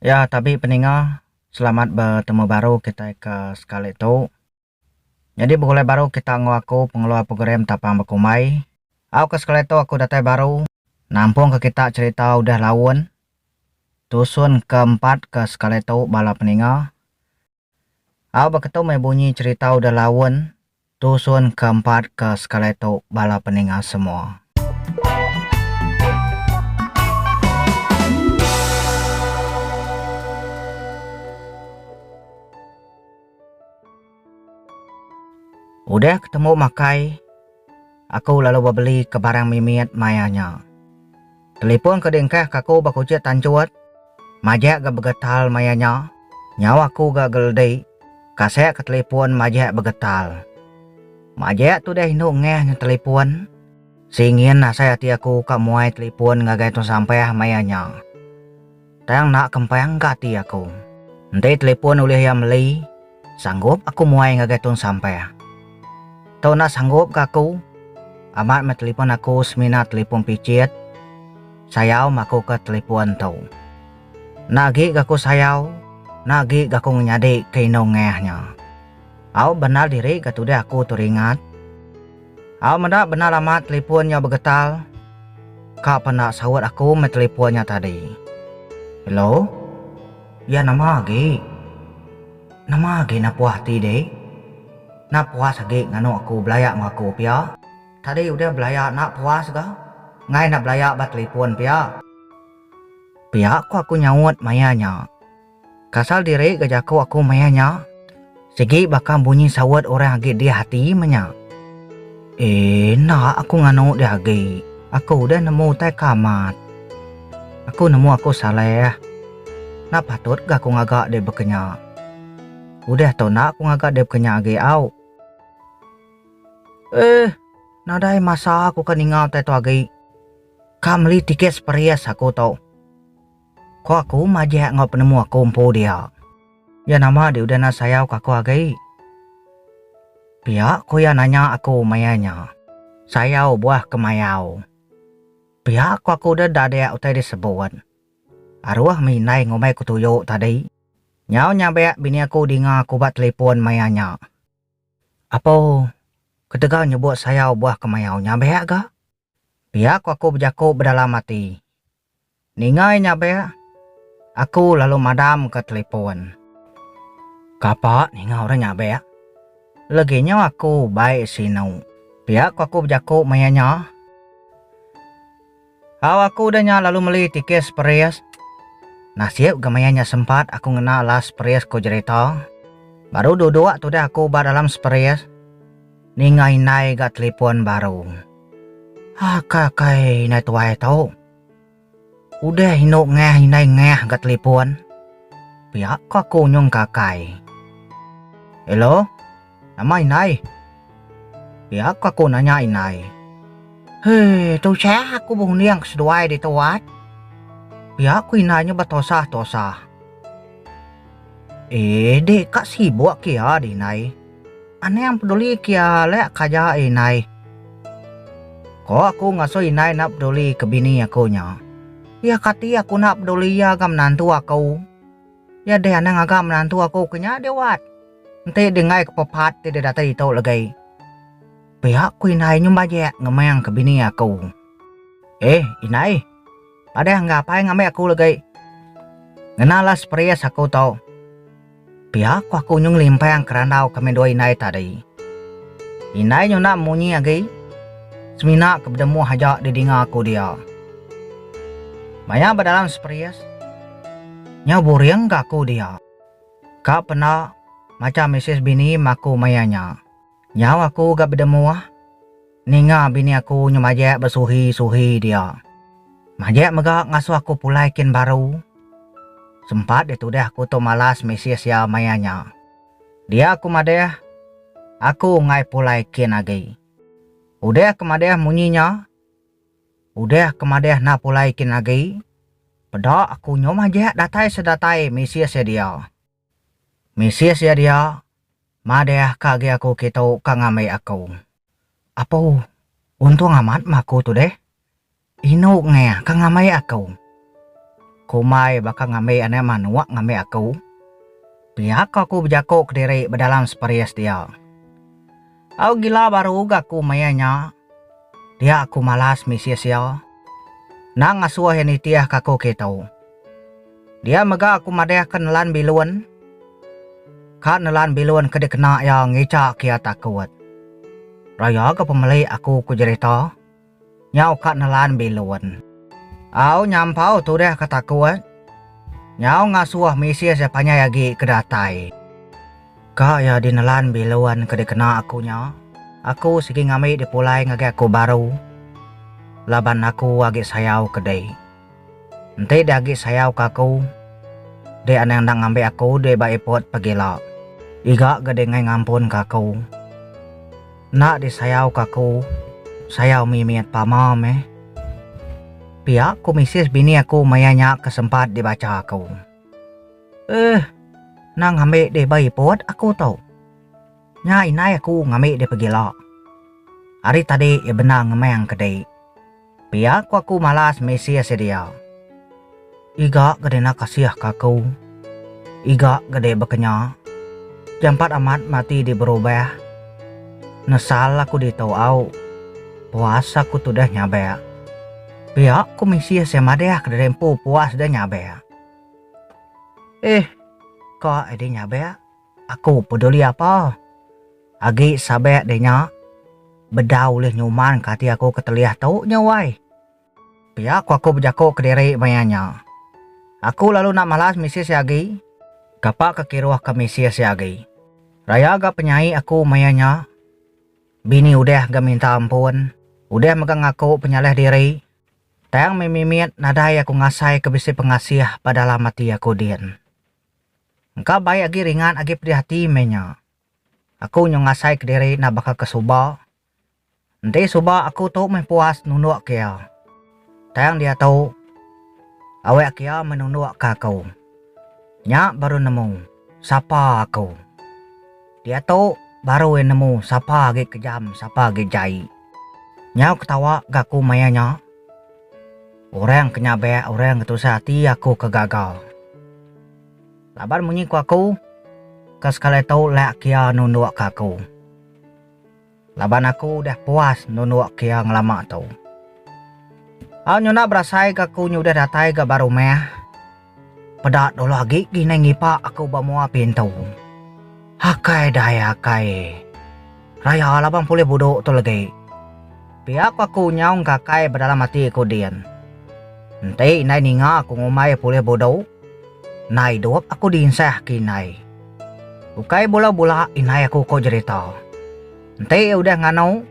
Ya tabi peninga selamat betemu baru kitai ke sekali tu. Nyadi begulai baru kita enggau aku pengeluar program Tapang Bekumbai. Au ke sekali tu aku datai baru. Nampung ke kita cerita udah laun. Tusun ke empat ke sekali tu bala peninga. Au ba ketu meh bunyi cherita udah laun tusun ke empat ke sekali tu bala peninga semua. Udah ketemu makai aku lalu ba beli ke barang mimit maya nya. Telipon ke diengkah ka aku ba kuchit tanchut, majak ga begetal maya nya, nyau aku ga geldi, kasek ke telipon majak begetal. Majak tu deh indu ngeh nya telipon, singin asai ati aku ka muai telipon ngagai tun sampah maya nya. Tang enda kempang ka ati aku. Enti telepon ulih iya meli, sanggup aku muai ngagai tun sampah. Tu enda sanggup ka aku. Amat meh telepon aku semina telepon pichit. Sayau meh aku ke telepon tu. Enda agi ga aku sayau, enda agi ga aku ngenyadi ke indu ngah nya. Au bendar diri ga tudah aku tu ringat. Au meda bendar amat telipon nyau begetal. Ka penda saut aku meh telipon nya tadi. Hello. Ya nama agi. Nama agi enda puas ati deh. Enda puas agi nganu aku belaya enggau aku pia. Tadi udah belaya enda puas ga. Enggai enda belaya ba telipon pia. Pia ko aku nyaut maya nya. Kasal diri ga jaku aku maya nya. Sigi baka bunyi saut orang agi diah ati menya. Enda aku nganu diah agi. Aku udah nemu utai ke amat. Aku nemu aku salah. Enda patut ga aku ngaga diri baka nya. Udah tu enda aku ngaga diri baka nya agi au. Eeh. Nadai masa aku ke ninga utai tu agi. Ka meli tiket Spheres aku tu. Ko aku majak enggau penemu aku empu dia. Iya nama di udah enda sayau ke aku agi. Pia ko iya nanya aku maya nya. Sayau buah ke mayau. Pia ko aku udah enda ada utai di sebut. Aruh mih indai ngumbai ku tuyu tadi. Nyau nyabak bini aku dinga aku ba telipon maya nya. Apo, ketegal nyebut sayau buah ke mayau nyabak ga? Pia ku aku bejaku bedalam ati. Ninga iya nyabek, aku lalu madamka telefon. Kapa ninga orang nyabek? Leginya aku bai sinu. Pia ku aku bejaku maya nya. Au aku udah nya lalu meli tiket seperis. Nasib ga maya nya sempat aku ngena last seperis ku jerita. Baru duduk tudah aku ba dalam seperis. Ninga indai ga telipon baru. Aka kai indai tuai tu. Udah indu ngah indai ngah ga telipon. Pia ko aku nyung ka kai. Hello. Nama indai? Pia ko aku nanya indai. He, tusah aku berunding ke seduai ditu at. Pia ko indai nya betosah-tosah. Eh, deka sibuk ke iya deh indai. Anang peduli kia alek ka ja indai. Ko aku ngasoh indai enda peduli ke bini aku nya. Iya kati aku enda peduli iya ga menantu aku. Iya deh anang aga menantu aku ke nya deh wat. Enti deh enggai ke pepat ti deh datai ditu legi. Pia ku indai nyumbajek ngemang ke bini aku. Eh indai. Padah enggah apai ngambi aku legi. Ngena lah spries aku tu. Pia ku aku nyu ngelimpang kerandau kami dua indai tadi. Indai nyu enda munyi agi. Semina ke bedemuh aja didinga aku dia. Maya ba dalam spries, nyau buring ga aku dia. Ka penda, macha misis bini maku maya nya. Nyau aku ga bedemuh. Ninga bini aku nyu majek besuhi-suhi dia. Majek mega ngasuh aku pulai kin baru. Sempat ditudah aku tu malas misis iya maya nya. Dia aku madah, aku enggai pulai kin agi. Udah ke madah munyi nya? Udah ke madah enda pulai kin agi? Peda aku nyu majek datai sedatai misis iya dia. Misis iya dia, Madeh ka agi aku kitu ka ngambi aku. Apu, Untung amat meh aku tu deh. Inu ngeh ka ngambi aku. Kumbai baka ngambi anak manuk ngambi aku. Pia ko aku bejaku kediri bedalam sparis dia. Au gila baru ga aku maya nya. Dia aku malas misi sia. Endang ngasuh iya nitih ka aku ke tu. Dia mega aku madih ke nelan bilun. Ka nelan bilun ke dikena iya ngica ke iya takut. Raya ga pemelik aku ku jerita. Nyau ka nelan bilun. Au nyampau tudih ka takut. Nyau ngasuh misi sia panjai agi ke datai. Ka iya dinelan bilun ke dikena aku nya, aku sigi ngambi dipulai ngagai aku baru laban aku agi sayau ke dek. Enti dek agi sayau ke aku, dek anang enda ngambi aku dek ba iput pegila. Iga ga dingai ngampun ke aku. Enda disayau ke aku, sayau mimit pama meh. Pia ku misis bini aku maya nya ke sempat dibacha aku. Eh, nang ngambi dih ba iput aku tu. Nya indai aku ngambi dih pegila. Ari tadi iya bendar ngemang ke dih. Pia ku aku malas misih si dia. Iga ga dina kasih ke aku. Iga ga dih bekenya. Jampat amat mati dih berubah. Nesal aku ditu au. Puas aku tudah nyabak. Pia ku Misia sai madah kediri empu pua sida nyabak. Ih, ka Eddie nyabak, aku peduli apa. Agi sabak deh nya, bedau ulih nyuman ka ati aku ketelih tu nya wai. Pia ku aku bejaku kediri maya nya. Aku lalu enda malas Misia sai agi. Kapa ke kiruh ke Misia sai agi? Raya ga penyai aku maya nya. Bini udah ga minta ampun, udah mega ngaku penyalah diri, tang meh mimit nadai aku ngasai ke bisi pengasih ba dalam ati aku din. Engka baik agi ringat agi pedih ati meh nya. Aku nyau ngasai kediri enda baka ke suba. Enti suba aku tu meh puas nunduk ke iya. Tang diatu, awak kia menundukka aku. Nya baru nemu sapa aku. Diatu baru iya nemu sapa agi kejam sapa agi jai. Nyau ketawa ga aku maya nya. Orang ke nyabak orang ke tusah ati aku ke gaga. Laban munyi ku aku, ke sekali tu lak kia nundukka aku. Laban aku udah puas nundukka iya ngelama tu. Au nyunak berasaika aku nyu udah datai ga ba rumah. Peda dulu agi ginai ngipa aku ba mua pintu. Akai dai akai. Raya laban pulih buduk tu legi. Pia ku aku nyaungka akai ba dalam ati aku din. Enti indai ninga aku ngumbai pulih buduk, enda idup aku dinsah ke indai. Ukai bula bula indai aku ko jerita. Enti udah nganu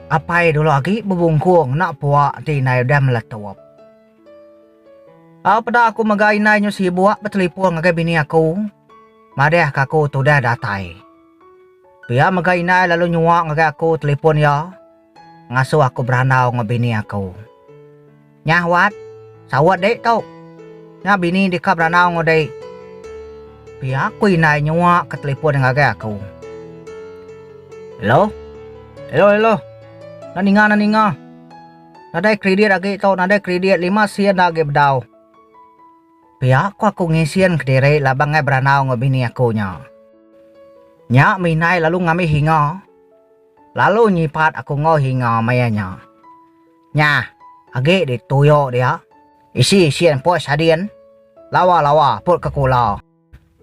apai dulu agi bebungkung enda puak enti indai udah meletup. Au peda aku mega indai nyu sibuk betelipon ngagai bini aku madeh ka aku tudah datai. Pia mega indai lalu nyuak ngagai aku telipon iya. ngasuh aku berandau enggau bini aku. Nyah wat, saut dek tu. Nya bini deka berandau enggau dek. Pia ku indai nyua ke telefon ngagai aku. Hello? Hello hello. Enda ninga enda ninga. Nadai kredit agi tu nadai kredit lima sen enda agi bedau. Pia ku aku ngisin kediri laban angai berandau enggau bini aku nya. Nya meh indai lalu ngambi hinga. Lalu nyipat aku enggau hinga maya nya. Nya, agi di tuyo dia. Isi sin pos hadin. Lawa-lawa put ke kula.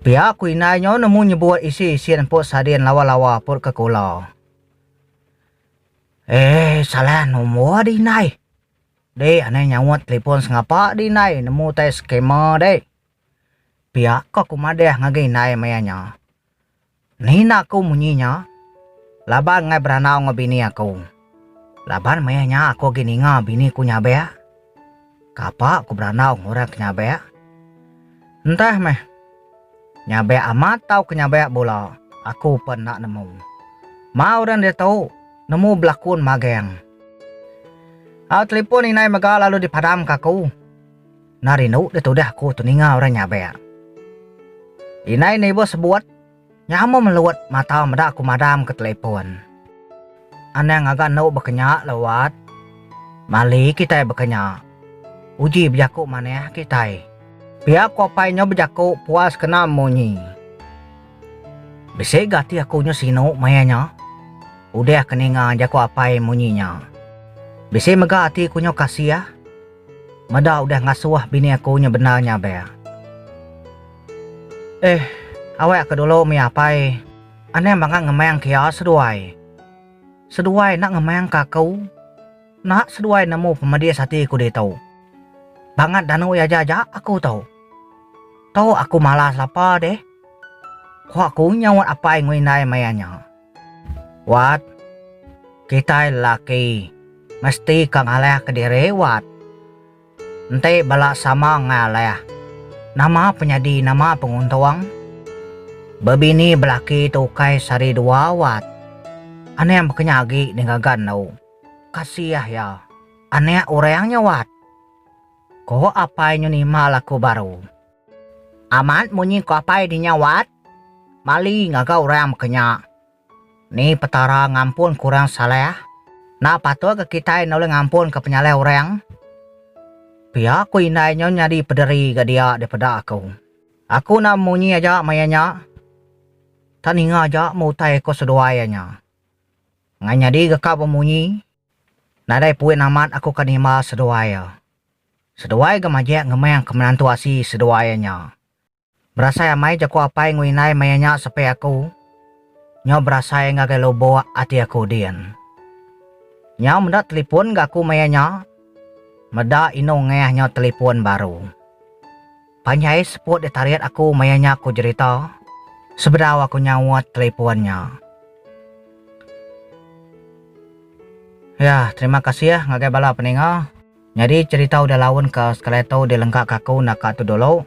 Pia ku indai nyo nemu nyebut isi sin pos hadin lawa-lawa put ke kula. Eh, salah nombor dik indai. Dik anai nyaut telepon sengapa dik indai nemu utai scammer dik. Pia ko aku madah ngagai indai maya nya. Ngena aku munyi nya laban enggai berandau enggau bini aku. Laban maya nya aku agi ninga bini ku nyabek. Kapa ku berandau enggau orang ke nyabek? Entah meh. Nyabek amat tau ke nyabek bula aku pen enda nemu. Mau orang diatu nemu belakun mageng. Au telipon indai mega lalu dipadamka aku. Nah rindu deh tudah aku teninga orang nyabek. Indai Neighbour sebut, nyama melut mata meda aku madam ke telepon. Anang ngaga endo bekenya la Wat. Mali kitai bekenya. Uji bejaku manah kitai. Pia aku apai nyo bejaku puas kena munyi. Bisi ga ati aku nyo sinu maya nyo. Udah ke ninga jaku apai munyi nya. Bisi mega ati ku nyo kasih. Meda udah ngasuh bini aku nya bendar nya bea. Ehh awek ke dulu mih apai anang bangat ngemang ke iya seduai. Seduai enda ngemang ke aku. Enda seduai nemu pemedis ati aku ditu. Bangat danu iya aja aja aku tu. Tu aku malas lapa deh. Ku aku nyaut apai ngui indai maya nya. Wat, kitai lelaki mesti ka ngalih kediri wat. Enti bala sama enggau alih, nama penyadi nama penguntung? Bebini belaki tu ukai sehari dua wat. Anang bekenya agi ning gaga endo. Kasiah iya, anak orang nya wat. Ko apai nyu nima laku baru. Amat munyi ko apai di nya wat, mali ngaga orang baka nya. Ni Petara ngampun ke orang salah? Enda patut ke kitai nulung ngampun ke penyalah orang? Pia ku indai nyo nyadi pederi ga dia daripada aku. Aku enda munyi aja maya nya, tang ninga aja me utai ko seduai iya nya. Ngai nyadi ga ka bemunyi, nadai puin amat aku ka nimba seduai iya. Seduai ga majek ngemeng ke menantu asi seduai iya nya. Berasai amai jaku apai enggau indai maya nya sepe aku. Nyau berasai ngagai lubuk ati aku din. Nyau meda telipun ga aku maya nya. Meda inu ngeh nyau telipun baru. Panjai seput ditarit aku maya nya ku jerita sebedau aku nyaut telipun nya. Yah terima kasih ngagai bala peninga. Nyadi cherita udah laun ka sekalai tu di lengka ka aku enda ka tu dulu.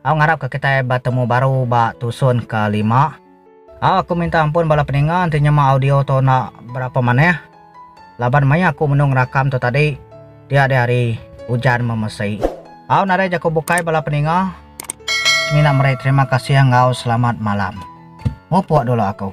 Au ngarap ka kitai betemu baru ba tusun ka lima. Au aku minta ampun bala peninga enti nyema audio tu enda berapa manah laban maya aku menu ngerakam tu tadi dia di hari ujan memesi. Au nadai jaku bukai bala peninga semina meri terima kasih enggau selamat malam. Mupuk dulu aku.